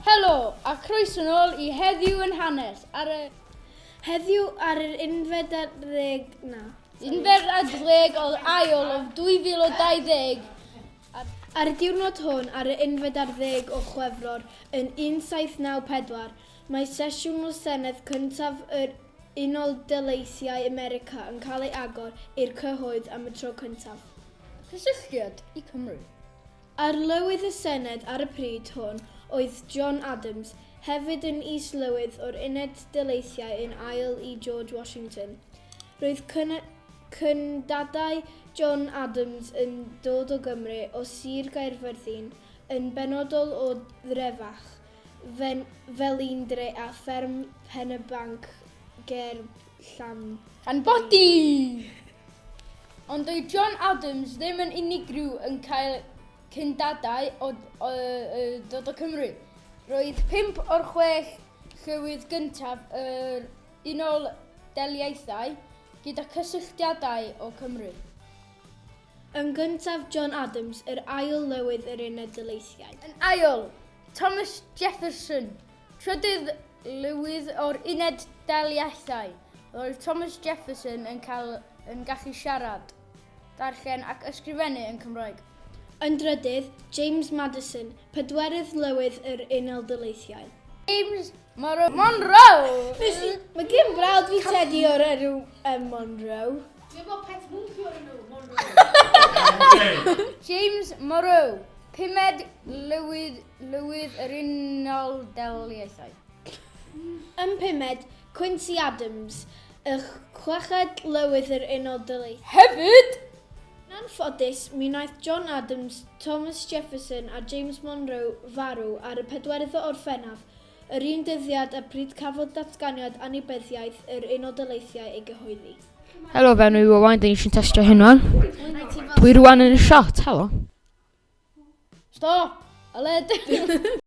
Helo, a croeso yn ôl i Heddiw yn Hanes ar y... Heddiw ar yr unfed ar ddeg na. Unfed ar ddeg o ail o 2020. Ar y diwrnod hwn, ar y unfed ar ddeg o Chwefror yn 1794, mae sesiwn y Senedd cyntaf yr Unol Daleithiau America yn cael ei agor i'r cyhoedd am y tro cyntaf. Cysylltiad i Cymru. Arlywydd y Senedd ar y pryd hwn oedd John Adams, hefyd yn Is-lywydd o'r Uned Daleithiau yn ail i George Washington. Roedd cyndadau John Adams yn dod o Gymru, o Sir Gaerfyrddin, yn benodol o Ddrefach, Fe'n felindre a fferm Pen-y-banc ger Llanbed. Llanbedi! Ond doedd John Adams ddim yn unigryw yn cael cyndadau o, o, o dod o Cymru. Roedd pimp o'r chwech llywydd gyntaf yr Unol Daliaethau gyda cysylltiadau o Cymru. Yn gyntaf John Adams, yr ail lywydd yr Uned Daleithiau. Yn ail, Thomas Jefferson, trydydd lywydd o'r Uned Daliaethau. Roedd Thomas Jefferson yn, cael, yn gallu siarad, darllen ac ysgrifennu yn Cymraeg. Yn drydydd, James Madison, pedwerydd lywydd yr Unol Daleithiau. James Monroe. Monroe! Mae gen brawd fi tedi o'r enw um, Monroe. Dwi'n bod pet mwnci o'r enw Monroe. James Morrow, pumed lywydd, lywydd yr Unol Daliaethau. Yn pumed, Quincy Adams, y chweched lywydd yr Unol Daliaethau. Hefyd! Yn ffodus, mi wnaeth John Adams, Thomas Jefferson a James Monroe farw ar y pedwerydd o Orffennaf Yr un dyddiad y pryd cafodd Datganiad Annibyniaeth yr Unol Daleithiau ei gyhoeddi. Helo, fe nhw Owain, dyn ni sy'n testio hyn wan. Dwi rwan yn y shot, helo. Stop! Aled!